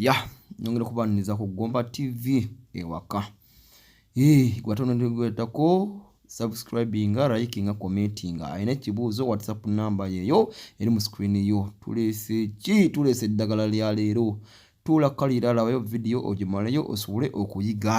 ya nyongera okubaniriza ku gomba tv ewaka gwatonogwetako subscribinga likinga commentinga alina ekibuuzo whatsapp namba yeyo eri mu screen yo tulese ki tulese eddagala lya leero tuula kaliralawayo vidiyo ogimaleyo osobole okuyiga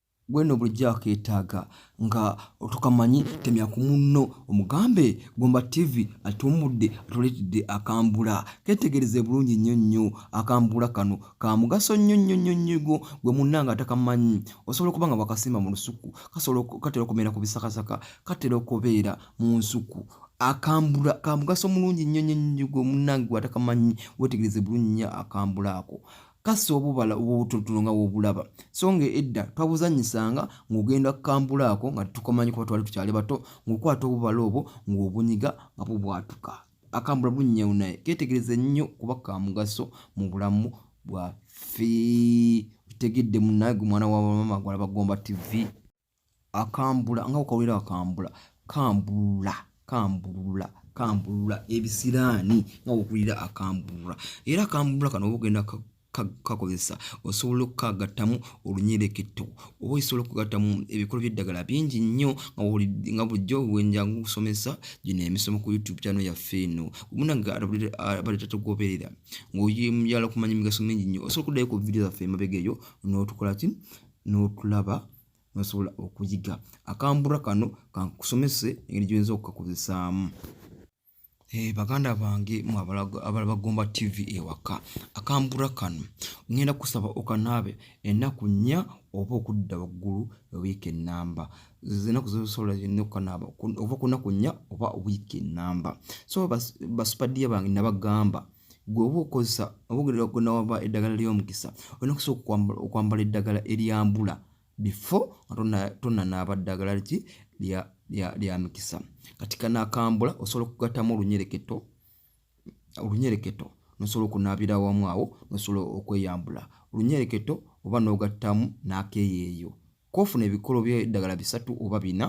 gwe no bulijjo akeetaaga nga otukamanyi temya ku munno omugambe gomba tv atuumudde atuleetedde akambula ketegereze bulungi nnyo nnyo akambula kano ka mugaso nnyo nnyo nnyo nnyigo gwe munna nga atakamanyi osobola okuba nga wakasimba mu lusuku kasobola katera okubeera ku bisakasaka katera okubeera mu nsuku akambula ka mugaso mulungi nnyo nnyo nnyigo munnange gwatakamanyi wetegereze bulungi nnyo akambula ako kassa obubala obw'obutulutulu nga w'obulaba so nga edda twabuzannyisanga ng'ogenda kukambulaako nga tukomanyi kuba twali tukyali bato ng'okwata obubala obwo ng'obunyiga nga bubwatuka akambula bunyewu naye ketegereze nnyo kuba ka mugaso mu bulamu bwaffe okitegedde munnaye gwe mwana wa bamama gwalaba gomba tivi akambula nga okawulira akambula kambulula kambulula kambulula ebisiraani nga okawulira akambulula era akambulula kano oba ogenda kakozesa osobola okukagattamu olunyereketo oba osobola okugattamu ebikolo by'eddagala bingi nnyo nga bulijjo wenjangu okusomesa gino emisomo ku youtube kyano yaffe eno munange abaletatogoberera ngaoyala okumanya emigaso mingi nnyo osobola okuddayo ku vidiyo zaffe emabega eyo n'otukola ki n'otulaba nosobola okuyiga akambura kano kankusomese engeri gyoyinza okukakozesaamu eh, baganda bange mwe abala bagomba tv ewaka akambura kano ngenda kusaba okanaabe ennaku nnya oba okudda waggulu wiiki enamba enaku zosobola zonna okukanaaba ova ku nnaku nnya oba wiiki enamba so basupadia bange nabagamba gwe oba okozesa obaogerera gwenawaba eddagala ly'omukisa olina okusooka okwambala eddagala eryambula bifo nga tonanaaba ddagala ki lya mikisa kati kanakambula osobola okugattamu olunyereketo olunyereketo nosobola okunaabira awamu awo nosobola okweyambula olunyereketo oba n'ogattamu n'akeeyeeyo kofuna ebikolo by'eddagala bisatu oba bina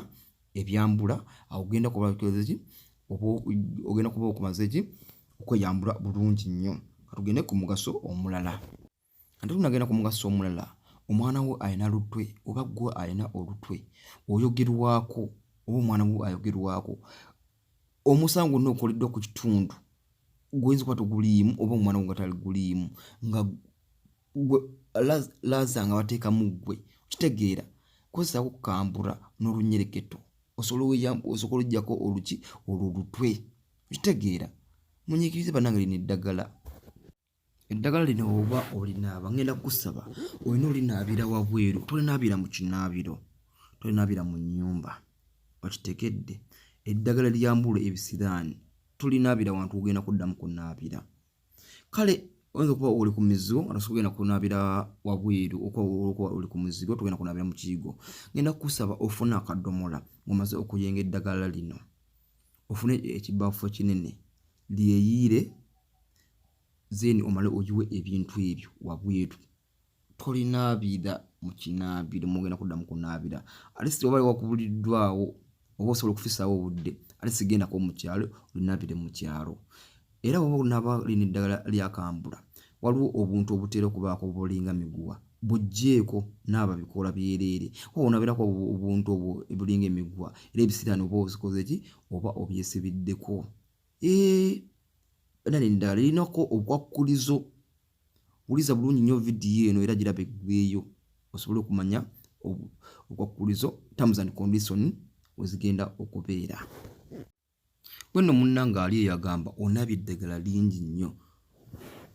ebyambula awo ogenda kuba okozeki ogenda kuba okumaze ki okweyambula bulungi nnyo katugende ku mugaso omulala ate tunagenda ku mugaso omulala omwana wo alina lutwe oba gwe alina olutwe oyogerwako oba omwana wo ayogerwako omusango gwonna ogukoleddwa ku kitundu guyinza okuba toguliimu oba omwana wo nga taliguliimu nga gwe laza nga bateekamu ggwe okitegeera kozesako okukambula n'olunyereketo osobola ojjako oluki olwo lutwe okitegeera munyikirize banange lino eddagala eddagala lino oba olinaaba ngenda kukusaba olina olinaabira wabweru tolinaabira mu kinaabiro tolinaabira mu nnyumba okitegedde eddagala lyambula ebisiraani tolinaabira wantu ogenda kuddamu kunaabira kale oyinza okuba oli ku mizigo nga tosobola kugenda kunaabira wabweru okuba oli ku mizigo togenda kunaabira mu kiyigo ngenda kukusaba ofune akadomola ng'omaze okuyenga eddagala lino ofune ekibaafu ekinene lyeyiire then omale ogiwe ebintu ebyo wabweru tolinaabira mu kinaabiro mugenda kudda mu kunaabira alisi oba wakubuliddwawo oba osobola okufisaawo obudde alisi gendako mu kyalo olinaabire mu kyalo era oba onaaba lina eddagala lyakambula waliwo obuntu obutera okubaako obulinga miguwa bujjeeko naaba bikoola byereere oba onaabirako obuntu obwo obulinga emiguwa era ebisiraani oba ozikoze ki oba obyesibiddeko Eh, banane ndala erinako obukwakkulizo wuliza bulungi nnyo vidiyo eno era giraba eggweeyo osobole okumanya obukwakkulizo terms and condition wezigenda okubeera wenno munna ng'ali eyagamba onaba eddagala lingi nnyo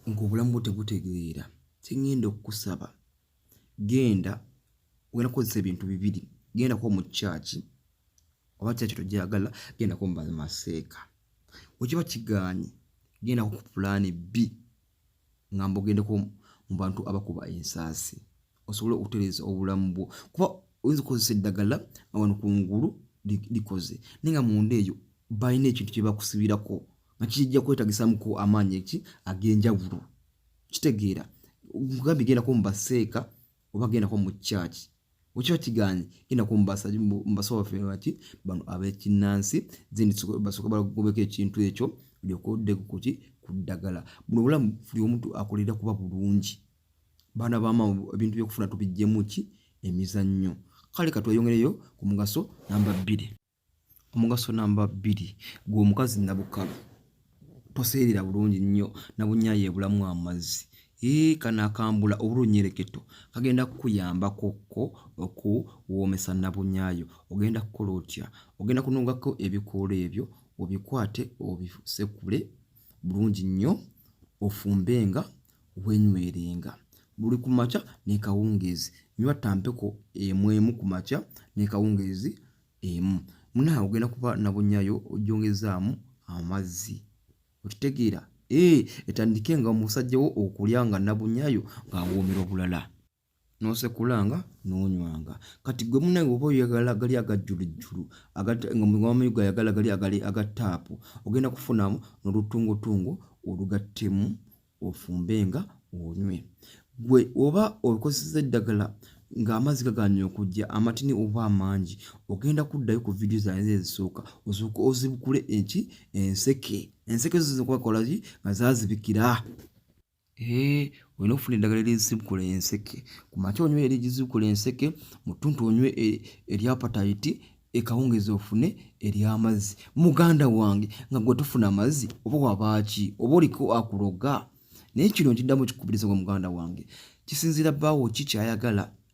ng'obulamu bwo tebutegeera kyeŋŋenda okukusaba genda ogenda kukozesa ebintu bibiri gendako mu kyaki oba kyaki togyagala gendako mu maseeka wekiba kiganye gendako ku pulaani b nga mbogendeko mu bantu abakuba ensaasi osobole okutereeza obulamu bwo kuba oyinza okukozesa eddagala nga wano ku ngulu likoze naye nga munda eyo balina ekintu kyebakusibirako nga kijja kwetagisamuko amaanyi eki ag'enjawulo kitegeera nkugambye gendako mu baseeka oba gendako mu kyaki okiba kiganye gendako mu basawo baffe baki bano abekinnansi then basooka balagobeko ekintu ekyo olyoka oddeko kuki ku ddagala buno obulamu buli omuntu akolera kuba bulungi baana bama ebintu byokufuna tubijjemu ki emizannyo kale katweyongereyo ku mugaso namba bbiri omugaso namba bbiri gwe omukazi nabukala toseerera bulungi nnyo nabunya yebulamu amazzi ee kana akambula obulunyereketo kagenda kukuyambako ko okuwoomesa nabunyayo ogenda kukola otya ogenda kunogako ebikoola ebyo obikwate obisekule bulungi nnyo ofumbenga wenywerenga buli ku makya ne kawungeezi nywa tampeko emu emu ku makya ne kawungeezi emu munaa ogenda kuba nabunyayo ojongezaamu amazzi okitegeera ee etandike nga omusajja wo okulya nga nabunyayo ng'awoomera obulala n'osekulanga n'onywanga kati gwe munaye oba oyagala gali agajjulujjulu ngawamayigo ayagala gali agali aga taapu ogenda kufunamu n'olutungotungo olugattemu ofumbe nga onywe gwe oba okozesa eddagala ng'amazzi gaganye okujja amatini oba amangi ogenda kuddayo ku vidiyo zanze ezisooka osooka ozibukule eki enseke enseke zo zikwakolaki nga zazibikira Eh, olina okufuna eddagala erizibukula enseke ku makya onywe erizibukula enseke mu ttuntu onywe e, erya patayiti ekawungezi ofune ery'amazzi muganda wange nga gwe tufuna amazzi oba wabaaki oba oliko akuloga naye kino nkiddamu kikubiriza gwa muganda wange kisinziira bbaawo ki kyayagala